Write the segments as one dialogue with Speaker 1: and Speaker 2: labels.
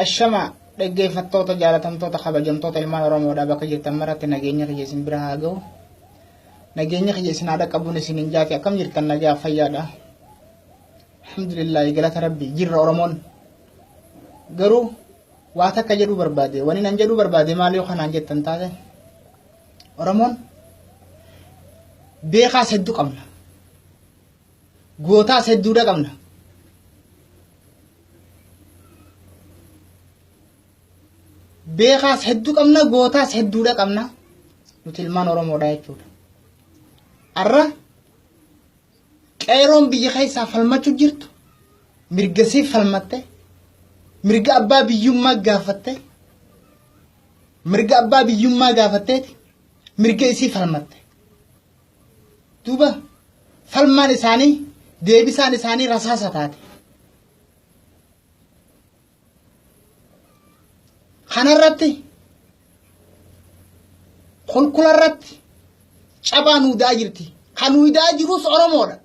Speaker 1: Ashama dhaggeeffattoota jaalatamtoota kabajamtoota ilmaan Oromoodhaa bakka jirtan maratti nageenya kiyya isin bira haa ga'u. Nageenya kiyya isin haa dhaqqabuun isin hin jaati akkam jirtan nagaa fayyaadha. Alhamdulillah galata rabbi jirra Oromoon. Garuu waa takka jedhuu barbaade wani nan jedhuu barbaade maal yoo kanaan jettan taate Oromoon beekaas hedduu qabna. gootaas hedduudha qabna. Beekaas hedduu qabna gootaas hedduudha qabna nuti ilmaan Oromoodha jechuudha. Har'a qeeroon biyya keessaa falmachuu jirtu mirga siif falmatte mirga abbaa biyyummaa gaafatte mirga abbaa biyyummaa gaafatteeti mirga isii falmatte. duuba falmaan isaanii deebisaan isaanii rasaasa taate. Kanarratti kulkularratti cabaa nuu da'aa jirti. Kan nuu da'aa jirus Oromoodha.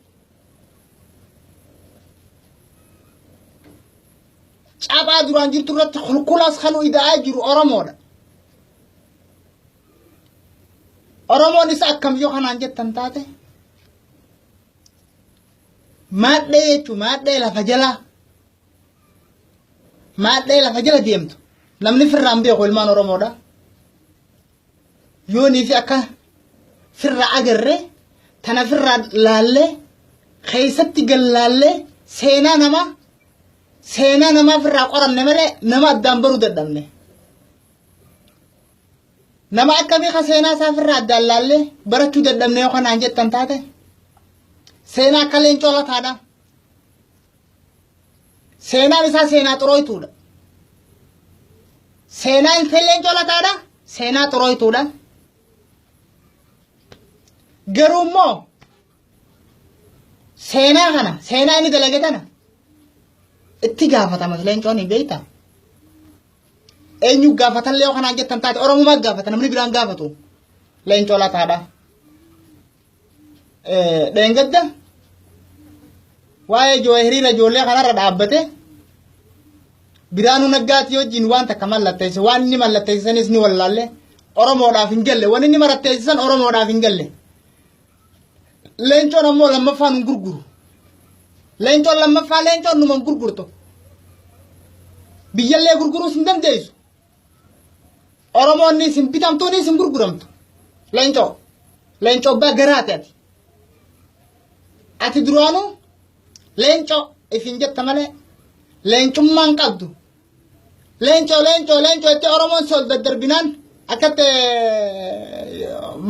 Speaker 1: Cabaa duraan jirtu irratti kulkulaas kan nuu da'aa jiru Oromoodha. Oromoon isa akkam yoo kanaan jettan taate maadhee jechuun maadhee lafa jalaa maadhee lafa jala deemtu namni firraan beeku ilmaan Oromoodha. Yoonii fi akka firraa agarre tana firraa laallee keessatti gallaallee seenaa namaa seenaa namaa firraa qoranne malee nama addaan baruu dadhabne. Nama akkamii ka seenaa isaa ofirraa addaan laallee barachuu dadhabne yoo kanaan jettan taate seenaa akka leencoo lataadha. Seenaan isaa seenaa xurooytuudha. Seenaa ilfeen leencoo lataadha. Seenaa xurooytuudha. Garuu immoo seenaa kana seenaa inni dalage tana itti gaafatama leencoon hin beektaa? Eenyu gaafatallee yoo kanaan jettan taate Oromumaa gaafata namni biraan gaafatu. Leencoo lataadha. Dheengadda waa'ee joo hiriira ijoollee kanarra dhaabbate biraanuu naggaatti wajjin waan takka mallatteesse waan inni mallatteessisanis ni wallaalle Oromoodhaaf hin galle waan inni mallatteessisan Oromoodhaaf hin galle. Leencoon ammoo lammaffaa nun gurguru. Leencoon lammaffaa leencoon numan gurgurtu. Biyyallee gurguruus hin dandeessu. Oromoonni isin bitamtuunis isin gurguramtu. Leencoo. Leencoo abbaa garaati ati. Ati duraanuu leencoo isin jetta malee leencummaan qabdu Leencoo leencoo leencoo itti Oromoon sol daddarbinaan akkatti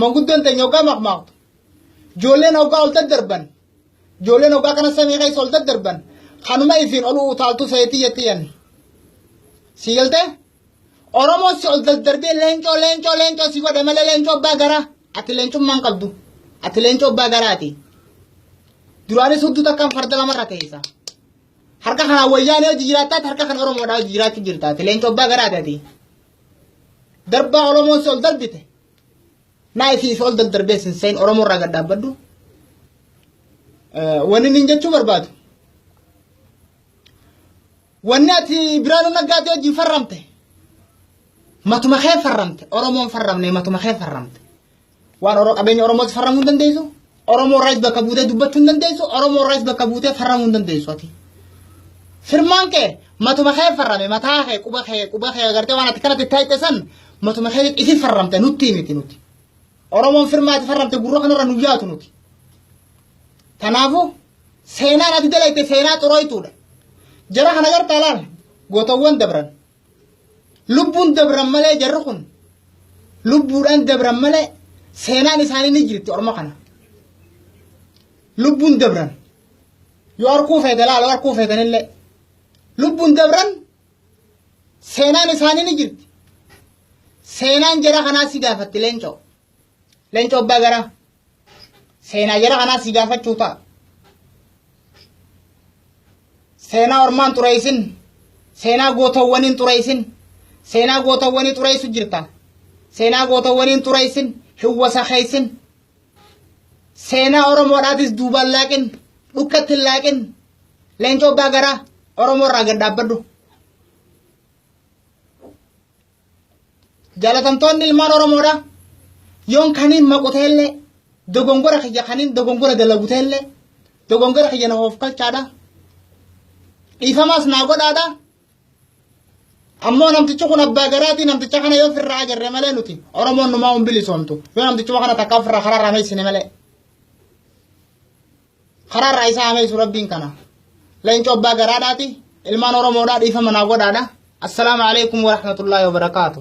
Speaker 1: manguddoon teenya hoggaa maqmaaqtu. Ijoolleen hoggaa ol daddarban. Ijoolleen hoggaa kana samii keessa ol daddarban. Kanuma ifiin ol utaaltuu sayitii jetti yanni. Si galtee? Oromoon si ol daddarbee leencoo leencoo leencoo si godhe malee leencoo abbaa garaa. Ati leencummaan qabdu. Ati leencoo abbaa garaati. Duraanis hudduu takkaan farda lamarra teessa. Harka kanaan wayyaanee hojii jiraattaati harka kan Oromoodhaa hojii jiraachuu jirtaati. Leenca obbaa garaati ati. Darbaa Oromoon si ol darbite. Naa isii si ol daddarbee sin seen Oromoo irraa gad dhaabbadhu. Wanni niin jechuu barbaadu. Wanni ati biraanuu naggaatee hojii farramte. Matuma kee farramte. Oromoon farramne matuma kee farramte. Waan Oro- qabeenya Oromootti farramuu hin dandeessu. Oromoo irraas bakka buutee dubbachuu hin dandeessu. Oromoo irraas bakka buutee farramuu hin dandeessu ati. Firmaan kee matuma kee farrame mataa kee quba kee quba kee agartee waan ati kanatti taa'ite san matuma kee isin farramte nutti miti nuti. Oromoon firmaa ati farramte gurra kanarra nu yaatu nuti. Kanaafuu seenaan ati dalayte seenaa xurooytuudha. Jara kana gartaa laal gootawwan dabran Lubbuun dabran malee jarri kun lubbuudhaan dabran malee seenaan isaanii ni jirti orma kana. Lubbuun dabran yoo harkuu feete laala yoo harkuu feetanillee lubbuun dabran seenaan isaanii ni jirti. Seenaan jara kanaa si gaafatti leencoo. Leencoo abbaa garaa. seenaa jara kanaa si gaafachuu ta'a. Seenaa ormaan xureessin, seenaa gootawwaniin xureessin, seenaa gootawwanii xureessu jirta. Seenaa gootawwaniin xureessin, hin wasakeessin. Seenaa Oromoodhaatis duubaan laaqin, dhukkatti hin laaqin. Leencoo abbaa garaa Oromoo irraa gad dhaabbadhu. Jaalatamtoonni ilmaan Oromoodha. Yoon kaniin maqu ta'ellee dogongora kiyya kaniin dogongora dalagu ta'ellee dogongora kiyya na hoofkalchaadha. Dhiifamaas naa godhaadha. Ammoo namtichi kun abbaa garaatii namticha kana yoo firraa agarre malee nuti Oromoon numaa hin bilisoomtu. Yoo namtichuma kana takka firraa karaa irraa meessine malee. karaarraa isaa hameessu rabbiin kana leenca obbaa garaadhaati ilmaan oromoodhaa dhiifama naa godhaadha assalaamu alaikum warahmatullaahi wabarakaatu